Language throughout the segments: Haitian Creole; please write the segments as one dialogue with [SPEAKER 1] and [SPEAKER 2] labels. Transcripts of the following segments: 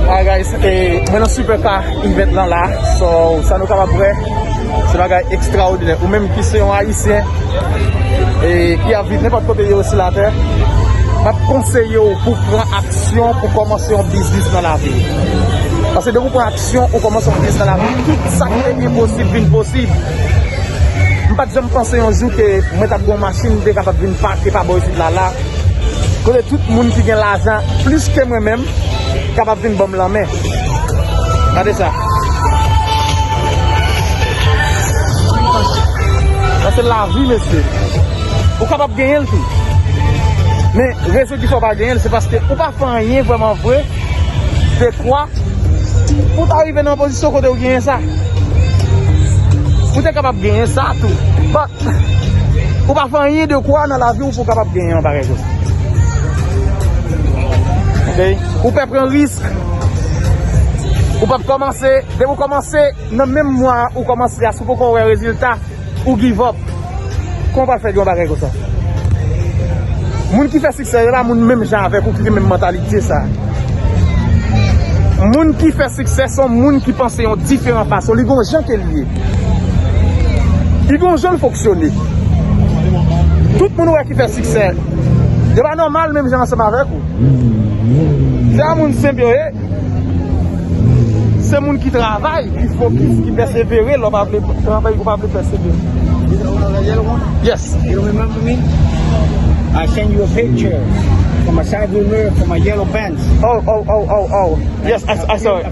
[SPEAKER 1] Alright guys, mwen nan super car event lan la So, sa nou kapab wè Se bagay extraordinè Ou menm ki se yon ayisyen E ki ap viv nenpòt kote yo sou la tè Map konseye ou pou pran aksyon Pou kòmanse yon biznis nan lavi Pase depi ou pran aksyon Ou kòmanse yon biznis nan lavi Tout sa ki te enposib vin posib Mpat janm panse yon jou ke Mwen tap gen yon machin mte kapab vin pake pa bò isit la la Kote tout moun ki gen lajan plis ke mwen menm kapab vin banm lanmen. Gade sa. Sa se lavi mesye. Ou kapab genyen l tou. Men rezon ki fè w pa genyen l se paske ou pa fè anyen vreman vre de kwa pou ta rive nan pozisyon kote ou genyen sa. Ou te kapab genyen sa tou. But ou pa fè anyen de kwa nan lavi w. Pou w kapab genyen yon bagay konsa. Ok. Ou pè pran risk. Ou pap kòmanse. Depi ou kòmanse nan menm mwa ou kòmanse a si w poko wè rezilta ou give up. Kòman w pral fè yon bagay konsa. Moun ki fè siksè yo pa moun menm jan avèk ou ki gen menm mantalite sa. Moun ki fè siksè son moun ki panse yon diferan fason. Li gon jan ke li ye. Li gen yon jan l fonksyone. Tout moun ou wè ki fè siksè, yo pa nòmal menm jan ansanm avèk ou. Se pa moun senp yo ye. Se moun ki travay, ki fokis, ki pèsevere lè w pa vle travay, ou pa vle pèsevere. Yes. Yes, I saw it.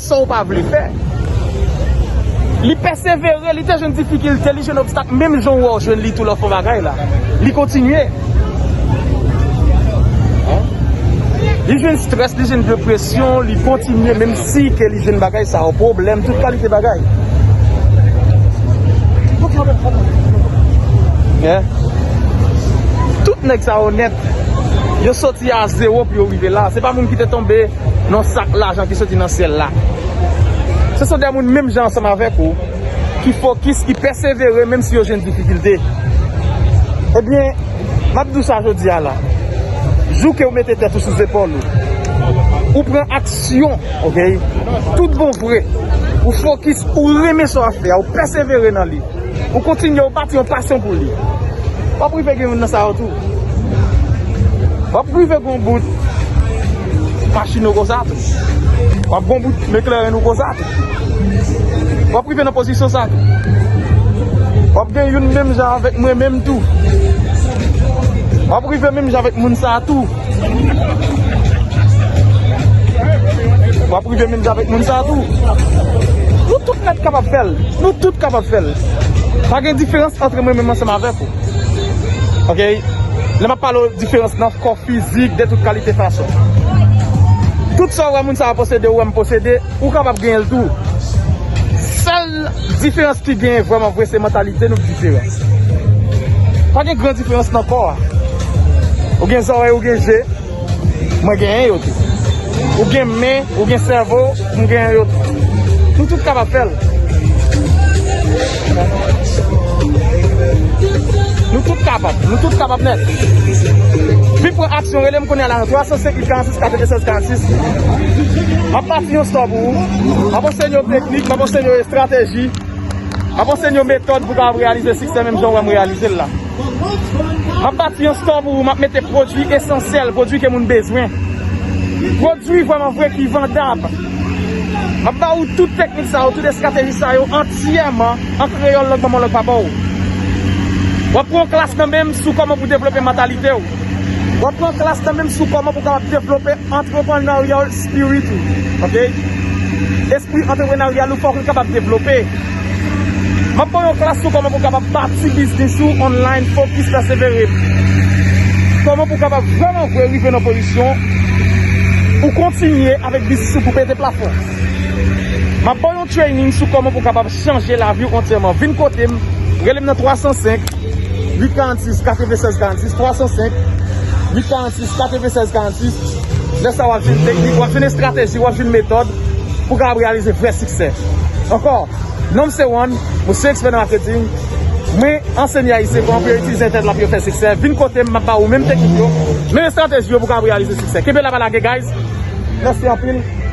[SPEAKER 1] Sa w pa vle fè. Li pèsevere, li te jwenn difikilte, li jwenn obstak menm jan w wè w jwenn li tou lè w fè yon bagay la. Li kontinye. Li jwenn strès, li jwenn depresyon, li kontinye menm si ke li jwenn bagay sa yo, pwoblèm, tout kalite bagay. Tout nèg sa yo nèt, yo soti a zewo pou yo rive la. Se pa moun ki te tonbe. Non sak lajan ki soti nan syèl la. Se son de moun menm jan ansanm avèk ou ki fokis, ki pèsevere menm si yo jwenn difikilte. Ebyen, m ap di w sa jodi a la. Jou ke ou mete tèt ou sou zepòl ou, ou pran aksyon ok, tout bon vre, ou fokis, ou renmen sa w ap fè a, ou pèsevere nan li. Ou kontinye ou pati yon pasyon pou li. Wap rive gen youn nan sa yo tou. Wap rive gon bout machin ou konsa tou. Wap gon bout mekleren ou konsa tou. Wap rive nan pozisyon sa tou. Wap gen youn menm jan avèk mwen menm tou. Wap rive menm jan avèk moun sa tou. Wap rive menm jan avèk moun sa tou. Nou tout nèt kapab fèl. Nou tout kapab fèl. Pa gen diferans antre mwen menm ansanm avèk ou. Ok. Lè map pale ou diferans nan kò fizik de tout kalite fason. Tout sa ou wè moun sa posede ou wèm posede. Ou kapab genyenl tou. Sèl. Diferans ki genyen vrèman vre se mantalite nou ki diferans. Pa gen gran diferans nan kò a. Ou gen zòrèy, ou gen je, mwen genyen yo tou. Ou gen men, ou gen sèvo, mwen genyen yo tou. Nou tout kapab fè l. Nou tout kapab, nou tout kapab nèt. Vin pran aksyon, rele m kounye a la nan 305 846 46 46. M ap pase yon sò pou ou. M ap ansenye w teknik, m ap ansenye w estrateji, m ap ansenye w metòd pou w kapab reyalize siksè menm jan w wè m reyalize l la. M ap bati yon store pou ou, m ap mete pwodui esansyèl, pwodui ke moun bezwen. Pwodui vwèman vre ki vandab. M ap ba ou tout teknik sa yo, tout estrateji sa yo antiyèman an kreyòl lòt manman w lòt papa w. W ap pran yon klas nan men m sou kòman pou devlope mantalite w. W ap pran klas nan menm sou kòman pou w kapab devlope entrepreneurial spirit ou. Ok. Espri antreprenaryal ou fòk li kapab devlope. M ap ban w yon klas sou kòman pou w kapab bati biznis ou online fokis la se vere. Kòman pou w kapab vrèman vre rive nan pozisyon ou kontinye avèk biznis ou pou pete plafon. M ap ban w yon. Yon training sou kòman pou w kapab chanje lavi w antyèman. Vin kote m, rele m nan 305 846 96 46, 305 846 96 46. Lè sa w ap jwenn teknik, w ap jwenn estrateji, w ap jwenn metòd pou w kapab reyalize vrè siksè. Ankò, non m se Juan, mwen se ekspè nan maketing. Mwen ansenye Ayisyen kòman pou yo itilize entènèt la pou yo fè siksè. Vin kote m, m ap ba ou menm teknik yo, menm estrateji yo pou w kapab reyalize siksè. Kenbe la pa lage guys! Mèsi anpil!